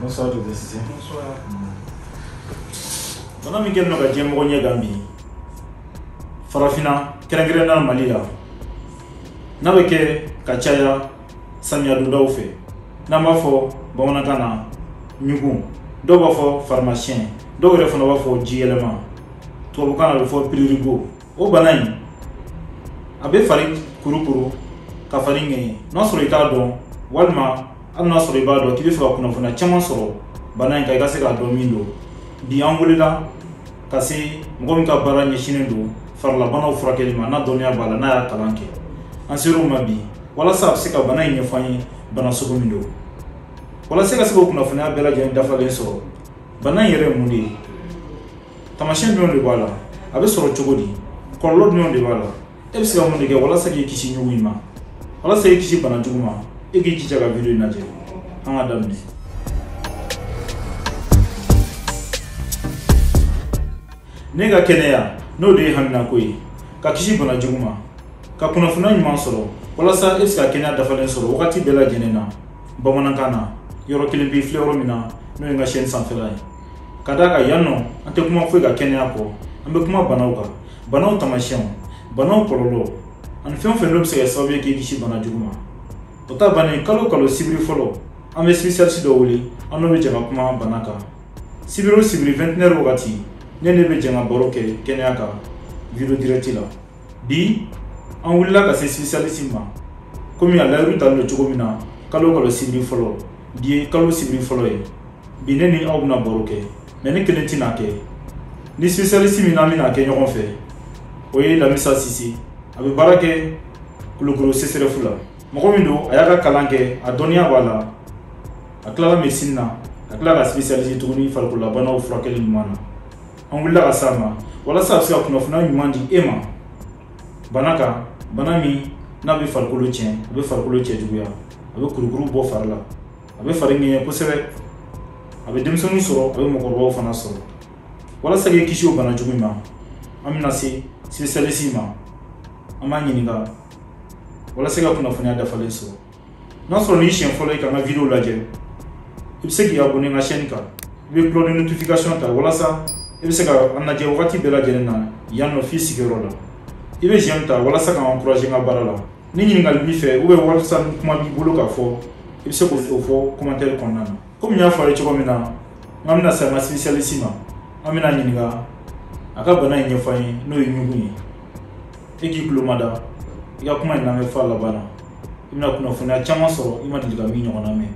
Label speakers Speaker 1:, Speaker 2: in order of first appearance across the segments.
Speaker 1: Bonsoir, docteur Cissé. Bonsoir. Bana min kɛlen don ka diɲɛmɔgɔ ɲɛgan bi farafinna kɛrɛnkɛrɛnnenya mali la n'a bɛ kɛ ka caya samiya dondaw fɛ n'an b'a fɔ bamanankan na ɲugun dɔw b'a fɔ farimasiyɛn dɔw yɛrɛ fana b'a fɔ jiyɛlɛma tubabukan na a bɛ fɔ prurigo o bana in a bɛ fari kurukuru ka fari ŋɛɲɛ n'a sɔrɔ i t'a dɔn walima hali n'a sɔrɔ i b'a dɔn k'i bɛ fɛ ka kunnafoniya caman sɔrɔ bana in kan i ka se k'a dɔn min don bi an wulila ka se mɔgɔ min ka baara ɲɛsinnen don farilabanaw furakɛli ma n'a dɔnniya b'a la n'a y'a kalan kɛ an ser'o ma bi walasa a bɛ se ka bana in ɲɛfɔ an ye bana sugu min don walasa ka se k'o kunnafoniya bɛɛ lajɛlen dafalen sɔrɔ bana in yɛrɛ ye mun de ye taamasiyɛn jumɛnw de b'a la a bɛ sɔrɔ cogo di kɔlɔlɔ jumɛnw de b'a la e bɛ se ka mun de kɛ walasa k'i kisi ɲugu in ma walasa k'i kisi bana jugu ma e k'i jija ka video in lajɛ an ka daminɛ n'e ka kɛnɛya n'o de y'e haminako ye ka kisi bana jugu ma ka kunnafoniya ɲuman sɔrɔ walasa e bɛ se ka kɛnɛya dafalen sɔrɔ wagati bɛɛ lajɛlen na bamanankan na yɔrɔ kelen pe i filɛ yɔrɔ min na n'o ye n ka chaîne sanfɛla ye ka d'a kan yan nɔ an tɛ kuma foyi kan kɛnɛya kɔ an bɛ kuma banaw kan banaw taamasiyɛnw banaw kɔlɔlɔ ani fɛn o fɛn n'o bɛ se ka kɛ sababu ye k'i kisi bana jugu ma o ta bannen kalo kalo sibiri fɔlɔ an bɛ spécialiste dɔ wele an n'o bɛ jɛ ka kuma bana kan sibiri o sibiri 21 heures wagati ne n'e bɛ jɛ ka baro kɛ kɛnɛya kan video direct la bi an wulila ka se spécialiste ma komi a layiru talen don cogo min na kalo kalo sibiri fɔlɔ bi ye kalo sibiri fɔlɔ ye bi ne ni aw bɛna baro kɛ mais ne kelen tɛna kɛ ni spécialiste min na an bɛna kɛ ɲɔgɔn fɛ o ye Lamissa Cissé a bɛ baara kɛ Kulukɔrɔ CSRéf la mɔgɔ min don a y'a ka kalan kɛ a dɔnniya b'a la a tilala médecine na ka tila ka spécialiser tuguni farikololabanaw furakɛli ɲuman na an wulila ka s'a ma walasa a bɛ se ka kunnafoniya ɲuman di e ma bana kan bana min n'a bɛ farikolo tiɲɛ a bɛ farikolo cɛjuguya a bɛ kurukuru bɔ fari la a bɛ fari ŋɛɲɛ kosɛbɛ a bɛ denmisɛnninw sɔrɔ a bɛ mɔgɔkɔrɔbaw fana sɔrɔ walasa k'i kisi o bana jugu ma an bɛna se spécialiste ma an b'a ɲininka walasa ka kunnafoniya dafalen sɔrɔ n'a sɔrɔ n'i siɲɛ fɔlɔ ye ka n ka video lajɛ i bɛ se k'i abonner n ka chaîne kan i bɛ cloche de notification ta walasa i bɛ se ka an lajɛ wagati bɛɛ lajɛlen na yan nɔ f'i sigiyɔrɔ la i bɛ j'aime ta walasa ka n encourager n ka baara la ni ɲininkali b'i fɛ ou bien walisa ni kuma b'i bolo k'a fɔ i bɛ se k'o fɔ commentaire kɔnɔna na komi n y'a fɔ aw ye cogo min na n'an bɛna se an ka spécialiste ma an bɛn'a ɲininka a ka bana in ɲɛfɔ an ye n'o ye ɲugun ye i k'i tulo mada i ka kuma in lamɛn f'a laban na i bɛna kunnafoniya caman sɔrɔ i ma deli ka min ɲɔgɔnna mɛn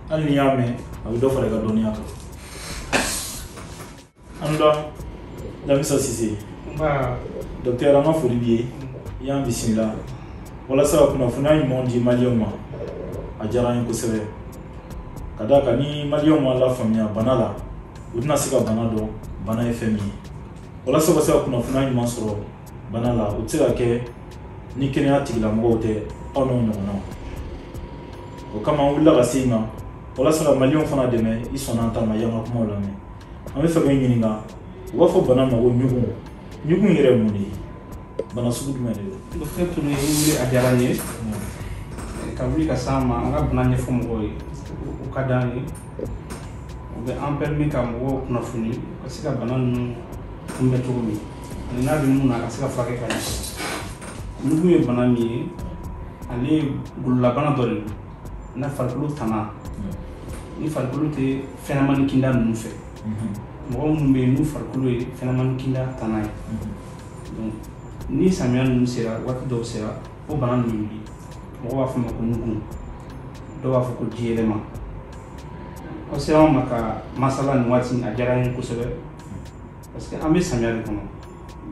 Speaker 1: hali n'i y'a mɛn a bɛ dɔ fara i ka dɔnniya kan an da Lamisa Sise docteur an ka foli b'i ye i y'an bisimila walasa ka kunnafoniya ɲumanw di maliyɛnw ma a diyara an ye kosɛbɛ ka d'a kan ni maliyɛnw ma lafaamuya bana la u tɛna se ka bana dɔn bana ye fɛn min ye walasa ka se ka kunnafoniya ɲuman sɔrɔ bana la o tɛ se ka kɛ ni kɛnɛya tigilamɔgɔw tɛ aw n'o ɲɔgɔnnaw o kama an wulila ka se i ma walasa ka maliyɛnw fana dɛmɛ i sɔnna an ta ma i y'an ka kumaw lamɛn an b'a fɛ k'i ɲininka u b'a fɔ bana ma ko ɲugun ɲugun yɛrɛ ye mun de ye bana sugu jumɛn de don docteur Touré wuli
Speaker 2: a diyara n ye ka wuli ka s'an ma an ka bana ɲɛfɔ mɔgɔw ye o ka d'an ye o bɛ an permis ka mɔgɔw kunnafoni ka se ka bana ninnu kunbɛn cogo min ani n'a bɛ min na a ka se ka furakɛ ka ɲɛ ɲugun ye bana min ye ale ye gololabana dɔ de don n'a farikolo tana ni farikolo tɛ fɛnɲɛnamani kinda ninnu fɛ mɔgɔ minnu bɛ yen n'u farikolo ye fɛnɲɛnamani kinda tana ye ni samiya ninnu sera waati dɔw sera o bana ninnu wuli mɔgɔw b'a fɔ a ma ko ɲugun dɔw b'a fɔ ko jiyɛlɛma aw sera anw ma ka masala nin waati a diyara n ye kosɛbɛ parce que an bɛ samiya de kɔnɔ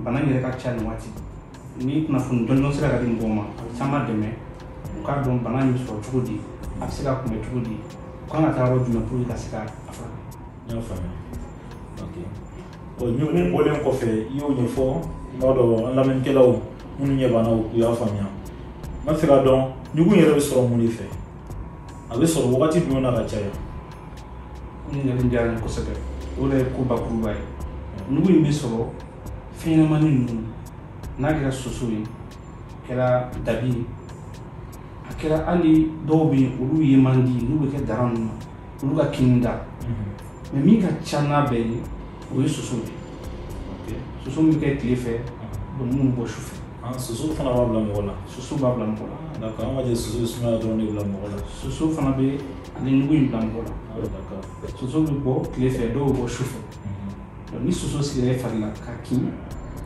Speaker 2: bana in yɛrɛ ka ca nin waati ni kunnafoni jɔnjɔn sera ka di mɔgɔw ma a bɛ caman dɛmɛ u k'a dɔn bana in bɛ sɔrɔ cogo di a bɛ se ka kunbɛn cogo di u kan ka taa yɔrɔ jumɛn pour que ka se ka a furakɛ n y'a
Speaker 1: faamuya ok Bon ɲugun bɔlen kɔfɛ i y'o ɲɛfɔ n b'a dɔn an lamɛnnikɛlaw minnu ɲɛ b'an na u y'a faamuya n b'a fɛ k'a dɔn ɲugun yɛrɛ bɛ sɔrɔ mun de fɛ a bɛ sɔrɔ wagati jumɛn na ka caya
Speaker 2: ɲininkali diyara n ye kosɛbɛ o de ye ko bakuruba ye ɲugun in bɛ sɔrɔ fɛnɲɛnamani ninnu n'a kɛra soso ye a kɛra dabi ye a kɛra hali dɔw bɛ yen olu ye man di n'u bɛ kɛ dara ninnu na olu ka kinni da mais min ka ca n'a bɛɛ ye o ye soso de ye soso min bɛ kɛ tile fɛ minnu bɔ su fɛ ah, soso fana b'a bila mɔgɔ
Speaker 1: la soso b'a bila mɔgɔ la
Speaker 2: d'accord an ka jɛ soso bɛ sumaya
Speaker 1: dɔrɔn de bila mɔgɔ la soso fana bɛ
Speaker 2: ale ɲugu in bila mɔgɔ la ah, d'accord soso
Speaker 1: bɛ bɔ
Speaker 2: tile fɛ dɔw bɛ bɔ su fɛ mhm. ni soso sigira i fari la ka kin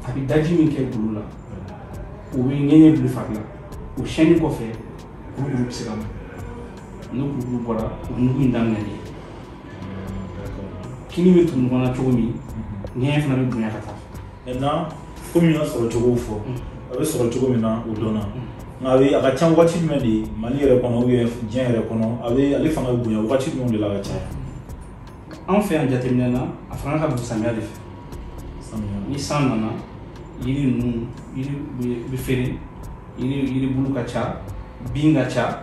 Speaker 2: a bɛ daji min kɛ golo la o bɛ ŋɛɲɛ bila fari la o siyɛnni kɔfɛ kurukuru bɛ se ka bɔ n'o kurukuru bɔra o ɲugu in daminɛlen kinni bɛ tugu ɲɔgɔn na cogo min ŋɛɲɛ fana bɛ bonya ka taa maintenant komi
Speaker 1: n y'a sɔrɔ cogo fɔ a bɛ sɔrɔ cogo min na o dɔnna nka a bɛ a ka ca waati jumɛn de ye mali yɛrɛ kɔnɔ ou bien diɲɛ yɛrɛ kɔnɔ a bɛ ale fanga bɛ bonya waati jumɛnw de la ka caya
Speaker 2: anw fɛ yan jateminɛ na a fanga ka bon samiya de fɛ samiya ni san nana yiri ninnu yiri bɛ- bɛ feere yiri yiribulu ka ca bin ka ca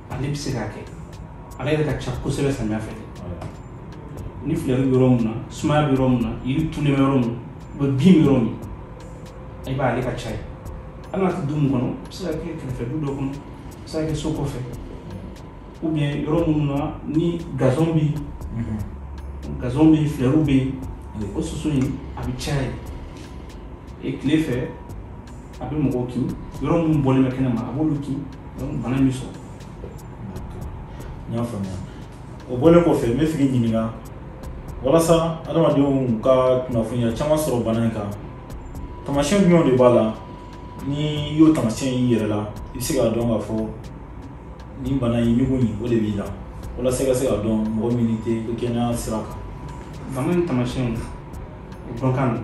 Speaker 2: ale bɛ se k'a kɛ ale yɛrɛ ka ca kosɛbɛ samiya fɛ ni filɛri bɛ yɔrɔ min na sumaya bɛ yɔrɔ min na yiri tunnen bɛ yɔrɔ min ou bien bin bɛ yɔrɔ min i b'a ye ale ka ca yen hali n'a tɛ du min kɔnɔ a bɛ se ka kɛ kɛrɛfɛ du dɔ kɔnɔ a bɛ se ka kɛ so kɔfɛ ou bien yɔrɔ minnu na ni gazon bɛ yen gazon bɛ yen filɛriw bɛ yen o soso in a bɛ caya yen tile fɛ a bɛ mɔgɔw kin yɔrɔ minnu bɔlen bɛ kɛnɛ ma a b'olu kin donc bana bɛ
Speaker 1: sɔrɔ n y'a faamuya o bɔlen kɔfɛ n bɛ fɛ k'i ɲininka walasa adamadenw ka kunnafoniya caman sɔrɔ bana in kan taamasiyɛn jumɛnw de b'a la n'i y'o taamasiyɛn y'i yɛrɛ la i bɛ se k'a dɔn k'a fɔ nin bana in ɲugu in o de b'i la walasa i ka se k'a dɔn mɔgɔ min tɛ kɛnɛya sira kan bana in
Speaker 2: taamasiyɛnw o dɔn ka nɔgɔn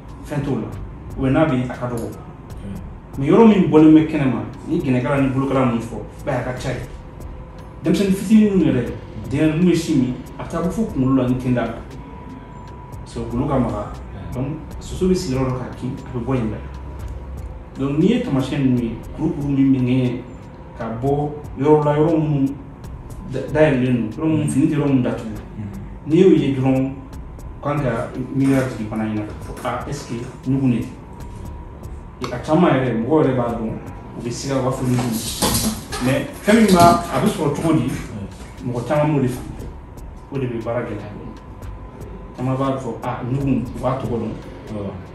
Speaker 2: fɛn t'o la ou bien n'a bɛ yen a ka dɔgɔ mais yɔrɔ min bɔlen bɛ kɛnɛ ma ni gɛnɛkala ni bolokala ninnu fɔ i b'a ye a ka ca yen denmisɛnnin fitinin ninnu yɛrɛ denkɛ ninnu bɛ sin min a bɛ taa bɔ fo kunkolo la ni tenda la parce que golo ka maga donc soso bɛ sigi yɔrɔ dɔ k'a kin a bɛ bɔ yen bɛɛ donc n'i ye taamasiyɛn ninnu ye kurukuru min bɛ ŋɛɲɛ ka bɔ yɔrɔ la yɔrɔ minnu Dayɛlɛlen don fini tɛ yɔrɔ min datugu n'i y'o ye dɔrɔn kan ka miiriya jigin bana in na k'a fɔ est-ce que ɲugu de tɛ a caman yɛrɛ mɔgɔ yɛrɛ b'a dɔn u bɛ siga u b'a fɔ ɲugu mais fɛn min a bɛ sɔrɔ cogo di mɔgɔ caman m'o de faamuya o de bɛ baara gɛlɛya dɔɔnin caman b'a fɔ ɲugu u b'a tɔgɔ dɔn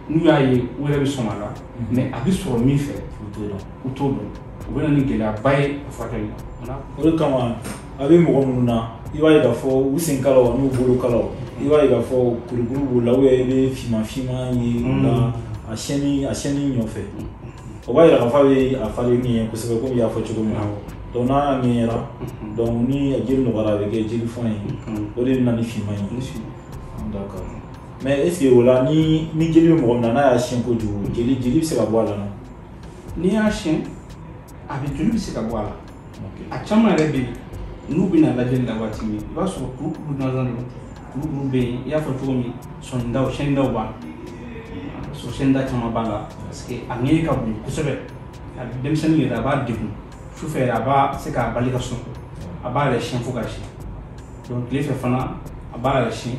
Speaker 2: n'u y'a ye u yɛrɛ bɛ sɔn a la mais a bɛ sɔrɔ min fɛ u t'o dɔn u t'o dɔn o bɛ na ni gɛlɛyaba ye a furakɛli la o de kama
Speaker 1: a bɛ mɔgɔ minnu na i b'a ye k'a fɔ u sen kalaw n'u bolo kalaw i b'a ye k'a fɔ kurukuru b'u la ou bien i bɛ finman finman ye u la mm. a siyɛnni a siyɛnni ɲɔfɛ mm. o b'a yira k'a fɔ a bɛ a fari ŋɛɲɛ kosɛbɛ komi i y'a fɔ cogo min na donc n'a y'a ŋɛɲɛra mm-hmm. donc ni jeli nɔgɔyara a bɛ kɛ jeli fɔn ye mm-hmm. o de bɛ na ni finman ye d'accord mais est ce que o la ni ni jeli bɛ mɔgɔ min na n'a y'a siyɛn kojugu jeli jeli bɛ se ka bɔ a la non. n'i
Speaker 2: y'a siyɛn a bɛ joli bɛ se ka bɔ a la a caman yɛrɛ bɛ yen n'u bɛ na lajɛli la waati min i b'a sɔrɔ kurukuru gansan don kurukuru bɛ yen i y'a fɔ cogo min sɔnidaw siyɛnnidaw b'a la so siyɛnnida caman b'a la parce que a ŋɛɲɛ ka bon kosɛbɛ a denmisɛnnin yɛrɛ a b'a degun sufɛ yɛrɛ a bɛ se k'a bali ka sunɔgɔ a b'a yɛrɛ siyɛn fo k'a siyɛn donc tile fɛ fana a b'a yɛrɛ siyɛn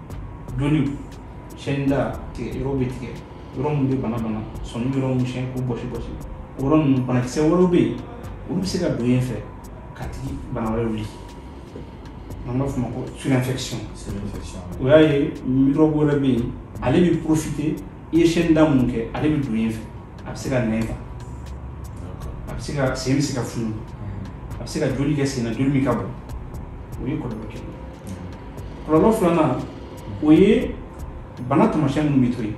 Speaker 2: donc ni siyɛnni da tigɛ yɔrɔ bɛ tigɛ yɔrɔ min bɛ bana bana sɔnin yɔrɔ minnu siyɛn k'u bɔsi bɔsi o yɔrɔ ninnu banakisɛ wɛrɛw bɛ yen olu bɛ se ka don yen fɛ k'a tigi bana wɛrɛ wuli n'an b'a fɔ o ma ko surinfection o y'a ye microbe wɛrɛ bɛ yen ale bɛ profiter i ye siyɛnni da minnu kɛ ale bɛ don yen fɛ a bɛ se ka nɛn ta a bɛ se ka sen bɛ se ka funu a bɛ se ka joli kɛ sen na joli min ka bon o ye kɔlɔlɔ kelen ye kɔlɔlɔ filanan o ye bana taamasiyɛn minnu bɛ to yen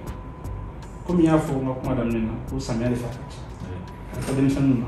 Speaker 2: komi n y'a fɔ n ka kuma daminɛ na ko samiya de fɛ a ka ca a ka denmisɛnninw na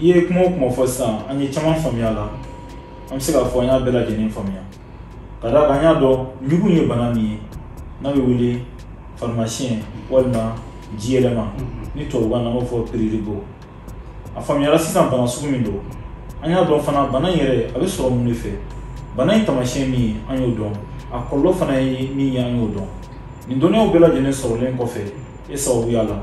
Speaker 1: i ye kuma o kuma fɔ sisan an ye caman faamuya a la an bɛ se k'a fɔ an y'a bɛɛ lajɛlen faamuya ka d'a kan an y'a dɔn ɲugu ye bana min ye n'a bɛ wele farimasiyɛn walima jiyɛlɛma ni tubabukan na an b'a fɔ prurigo a faamuyara sisan bana sugu min don an y'a dɔn fana bana in yɛrɛ a bɛ sɔrɔ mun de fɛ bana in taamasiyɛn min ye an y'o dɔn a kɔlɔlɔ fana ye min ye an y'o dɔn nin dɔnniyaw bɛɛ lajɛlen sɔrɔlen kɔfɛ e sababuya la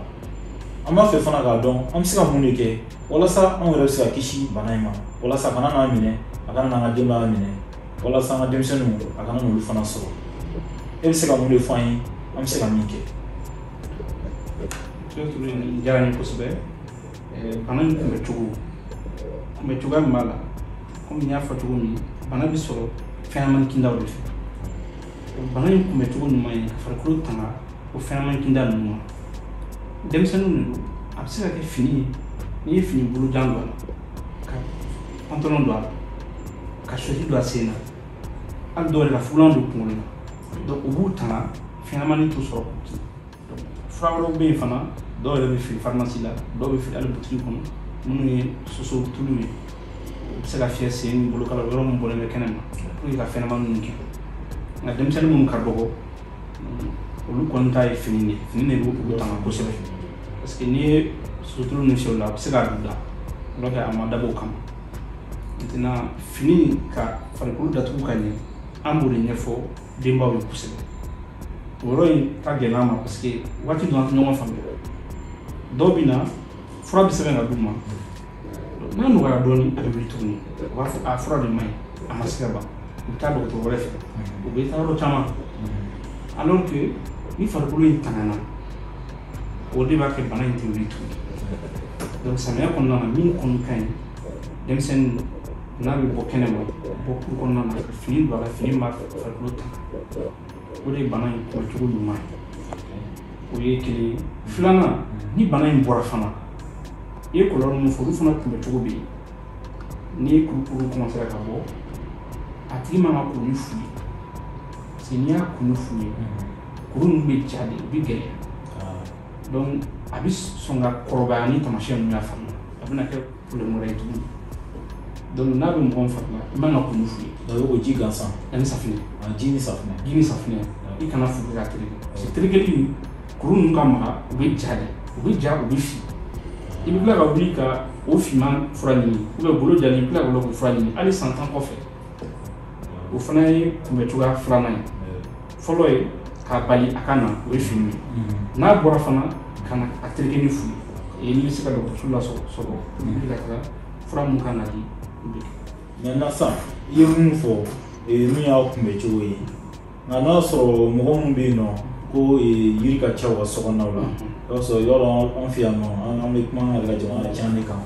Speaker 1: an b'a fɛ fana k'a dɔn an bɛ se ka mun de kɛ walasa anw yɛrɛ bɛ se ka kisi bana in ma walasa a kana n'an minɛ a kana n'an ka denbaya minɛ walasa an ka denmisɛnninw a kana n'olu fana sɔrɔ e bɛ se ka mun de fɔ an ye an bɛ se ka min kɛ
Speaker 2: diyara n ye kosɛbɛ bana in kunbɛ cogo kunbɛ cogoya min b'a la komi n y'a fɔ cogo min bana bɛ sɔrɔ fɛnɲɛnamani kindaw de fɛ bana in kunbɛ cogo ɲuman ye ka farikolo tanga o fɛnɲɛnamani kinda ninnu ma denmisɛnninw de don a bɛ se ka kɛ fini ye n'i ye fini bolojan don a la ka pantalon don a la ka chaussette don a sen na hali dɔw yɛrɛ ka fugulan don kunkolo la donc o b'u tanga fɛnɲɛnamani t'u sɔrɔ k'u kin fura wɛrɛw bɛ yen fana dɔw yɛrɛ bɛ feere farimasi la dɔw bɛ feere hali butigi kɔnɔ minnu ye soso tulu ye u bɛ se ka fiyɛ sen ni bolokala yɔrɔ min bɔlen bɛ kɛnɛ ma pour que ka fɛnɲɛnama ninnu gɛn nka denmisɛnnin minnu ka dɔgɔ olu kɔni ta ye fini de fini de bɛ olu tanga kosɛbɛ parce que n'i ye soso tulu ninnu fiyɛ o la a bɛ se ka don da alors que a ma dabɔ o kama maintenant fini ka farikolo datugu ka ɲɛ an b'o de ɲɛfɔ denbaw ye kosɛbɛ o yɔrɔ in ka gɛlɛn an ma parce que waati dɔ an tɛ ɲɔgɔn faamuya dɔw bɛ na fura bɛ sɛbɛn ka d'u ma n'a nɔgɔyara dɔɔnin a bɛ wuli tuguni u b'a fɔ a fura de man ɲi a ma se ka ban u bɛ taa dɔgɔtɔrɔ wɛrɛ fɛ u bɛ taa yɔrɔ caman alors que ni farikolo in tangana o de b'a kɛ bana in tɛ wuli tuguni donc samiya kɔnɔna na min kɔni ka ɲi denmisɛnnin n'a bɛ bɔ kɛnɛ ma bɔ kuru kɔnɔna na ka fini don a la fini b'a farikolo tanga o de ye bana in kunbɛcogo ɲuman ye o ye kelen ye filanan ni bana in bɔra fana i ye kɔlɔlɔ min fɔ olu fana kunbɛcogo bɛ yen ni kurukuru kɔmansera ka bɔ a tigi man ka ko ni fu ye parce que n'i y'a ko ni fu ye kuru ninnu bɛ ja de u bɛ gɛlɛya donc a bɛ sɔn ka kɔrɔbaya ni taamasiyɛn ninnu y'a fari la a bɛna kɛ problème wɛrɛ ye tuguni donc n'a bɛ mɔgɔ min fari la i man ka ko ni fu ye donc o ji
Speaker 1: gansan ani
Speaker 2: safinɛ ji ni safinɛ ji
Speaker 1: ni safinɛ
Speaker 2: i kana fu k'a tereke parce que terekeli kuru ninnu ka maga u bɛ ja de u bɛ ja u bɛ fin i bɛ tila ka wuli ka o finman fura ɲini golo jalen i bɛ tila ka wuli k'o fura ɲini hali san tan kɔfɛ o fana ye kunbɛ cogoya filanan ye fɔlɔ ye k'a bali a ka na o ye fini ye n'a bɔra fana kana a tereke ni fu ye n'i bɛ se ka dɔgɔtɔrɔso lasɔrɔ i bɛ ka taga fura min kan ka di maintenant sa i ye
Speaker 1: min fɔ nin y'a kunbɛ cogo ye nka n'a sɔrɔ mɔgɔ minnu bɛ yen nɔ ko yiri ka ca u ka sokɔnɔnaw la i b'a sɔrɔ yɔrɔ an fɛ yan nɔ an bɛ kuma an yɛrɛ ka jamana can de kan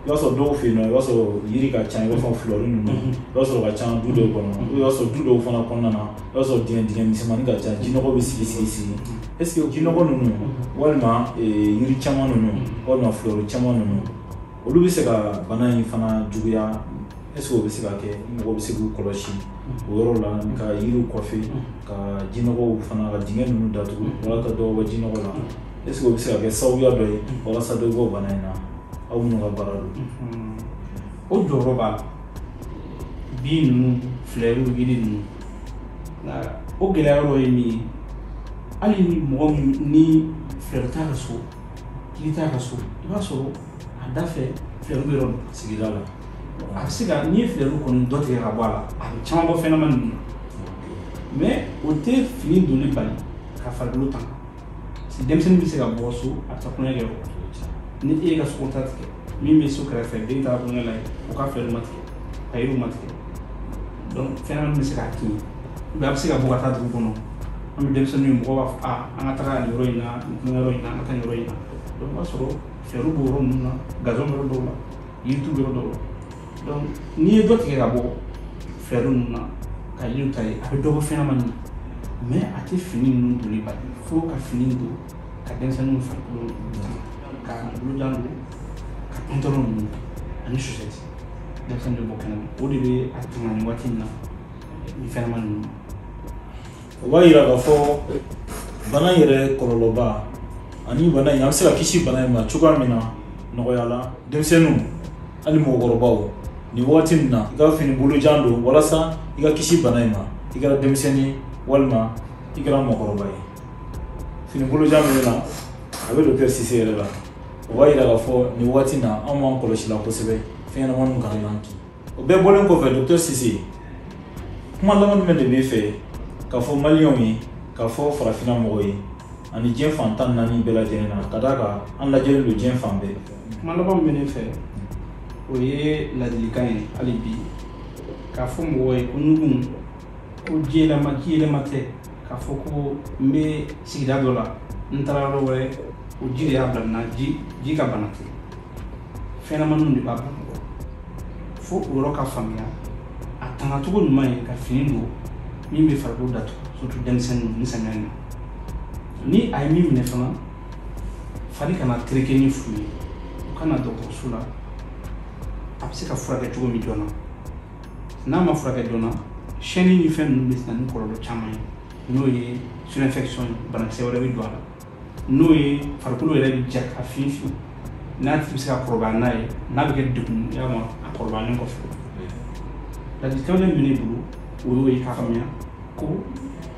Speaker 1: i b'a sɔrɔ dɔw fɛ yen nɔ i b'a sɔrɔ yiri ka ca i b'a fɔ fulɔri ninnu i b'a sɔrɔ ka ca du dɔw kɔnɔ i b'a sɔrɔ du dɔw fana kɔnɔna na i b'a sɔrɔ dingɛ dingɛ misɛnmani ka ca jinɔgɔ bɛ sigi sigi sigi est ce que jinɔgɔ ninnu walima yiri caman ninnu walima fulɔri caman ninnu olu bɛ se ka bana in fana juguya est ce que o bɛ se ka kɛ mɔgɔ bɛ se k'u kɔlɔsi o yɔrɔ la ka yiriw kɔfɛ ka jinɔgɔw fana ka dingɛ ninnu datugu walasa dɔ bɔ jinɔgɔ la est ce que o bɛ se ka kɛ sababuya dɔ ye walasa dɔ bɔ bana in na aw minnu ka baara don
Speaker 2: o jɔyɔrɔ b'a la bin ninnu filɛriw yiri ninnu nka o gɛlɛya yɔrɔ ye min ye hali ni mɔgɔ min ni filɛri t'a ka so yiri t'a ka so i b'a sɔrɔ a da fɛ filɛri bɛ yɔrɔ min sigida
Speaker 1: la a bɛ se
Speaker 2: ka n'i ye filɛri kɔni dɔ tigɛ ka bɔ a la a bɛ caman bɔ fɛnɲɛnama ninnu na mais o tɛ fini donni bali ka farikolo tanga denmisɛnnin bɛ se ka bɔ so a bɛ taa tulonkɛ kɛ yɔrɔ ni e y'i ka so kɔ ta tigɛ min bɛ so kɛrɛfɛ den taara tulonkɛ la yen o ka filɛriw ma tigɛ ka yiriw ma tigɛ donc fɛnɲɛnamanin bɛ se k'a kin a bɛ se ka bɔ ka taa dugu kɔnɔ an bɛ denmisɛnninw ye mɔgɔw b'a fɔ a an ka taga nin yɔrɔ in na nin tulonkɛ yɔrɔ in na an ka taa nin yɔrɔ in na donc o b'a sɔrɔ filɛriw b'o yɔrɔ ninnu na gazon bɛ yɔrɔ dɔw la yiritu bɛ yɔrɔ dɔw la n'i ye dɔ tigɛ ka bɔ filɛri ninnu na ka yiriw tailler a bɛ dɔ bɔ fɛnɲɛnamanin na mais a tɛ fini ninnu donni bali fo ka fini don ka denmisɛnninw farikolo ka bolojan don ka pantalon ninnu ani chaussette denmisɛnnin bɛ bɔ kɛnɛma o de bɛ a tanga nin waati in na nin fɛnɲɛnama ninnu ma
Speaker 1: o b'a yira k'a fɔ bana in yɛrɛ kɔlɔlɔba ani bana in an bɛ se ka kisi bana in ma cogoya min na nɔgɔya la denmisɛnninw hali mɔgɔkɔrɔbaw nin waati nin na i ka fini bolojan don walasa i ka kisi bana in ma i kɛra denmisɛnnin walima i kɛra mɔgɔkɔrɔba ye fini bolojan min na a bɛ dɔkitɛri sise yɛrɛ la o b'a yira k'a fɔ nin waati na anw b'an kɔlɔsi la kosɛbɛ fɛnɲɛnamaninw kana n'an kin o bɛɛ bɔlen kɔfɛ dɔkitɛri sise kuma laban jumɛn de b'i fɛ k'a fɔ maliyɛnw ye k'a fɔ farafinna mɔgɔw ye ani diɲɛ fan tan ni naani bɛɛ lajɛlen na ka d'a kan an lajɛlen don diɲɛ fan bɛɛ kuma laban min bɛ
Speaker 2: ne fɛ o ye ladilikan ye hali bi k'a fɔ mɔgɔw ye ko nugun ko jiyɛlɛma jiyɛlɛma tɛ k'a fɔ ko n bɛ sigida dɔ la n taara yɔrɔ wɛrɛ o ji de y'a bila n na ji ji ka bana tɛ fɛnɲɛnamaninw de b'a bila mɔgɔ fo o yɔrɔ ka faamuya a tangacogo ɲuman ye ka fini don min bɛ farikolo datugu surtout denmisɛnninw nin samiya in na ni a ye min minɛ fana fari kana tereke ni fu ye u ka na dɔgɔtɔrɔso la a bɛ se ka furakɛ cogo min joona n'a ma furakɛ joona siyɛnni ni fɛn ninnu bɛ na ni kɔlɔlɔ caman ye n'o ye surinfection ye banakisɛ wɛrɛ bɛ don a la n'o ye farikolo yɛrɛ bɛ ja ka fin fin n'a tigi bɛ se ka kɔrɔbaya n'a ye n'a bɛ kɛ degun y'a ma a kɔrɔbayalen kɔfɛ ladilikan min bɛ ne bolo o y'o ye k'a faamuya ko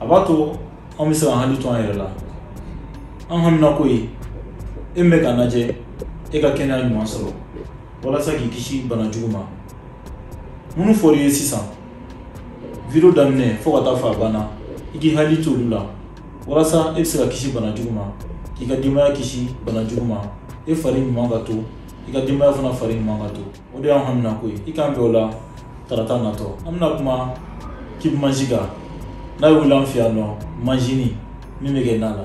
Speaker 1: a b'a to an bɛ se k'an hakili to an yɛrɛ la an haminako ye e min bɛ k'an lajɛ e ka kɛnɛya ɲuman sɔrɔ walasa k'i kisi bana jugu ma minnu fɔr'i ye sisan video daminɛ fo ka taa fo a banna i k'i hakili to olu la walasa e bɛ se ka kisi bana jugu ma k'i ka denbaya kisi bana jugu ma e fari ɲuman ka to i ka denbaya fana fari ɲuman ka to o de y'an haminako ye i k'an bɛn o la tarata natɔ an bɛna kuma kibu manji kan n'a bɛ wele an fɛ yan ko manjinin min bɛ kɛ na la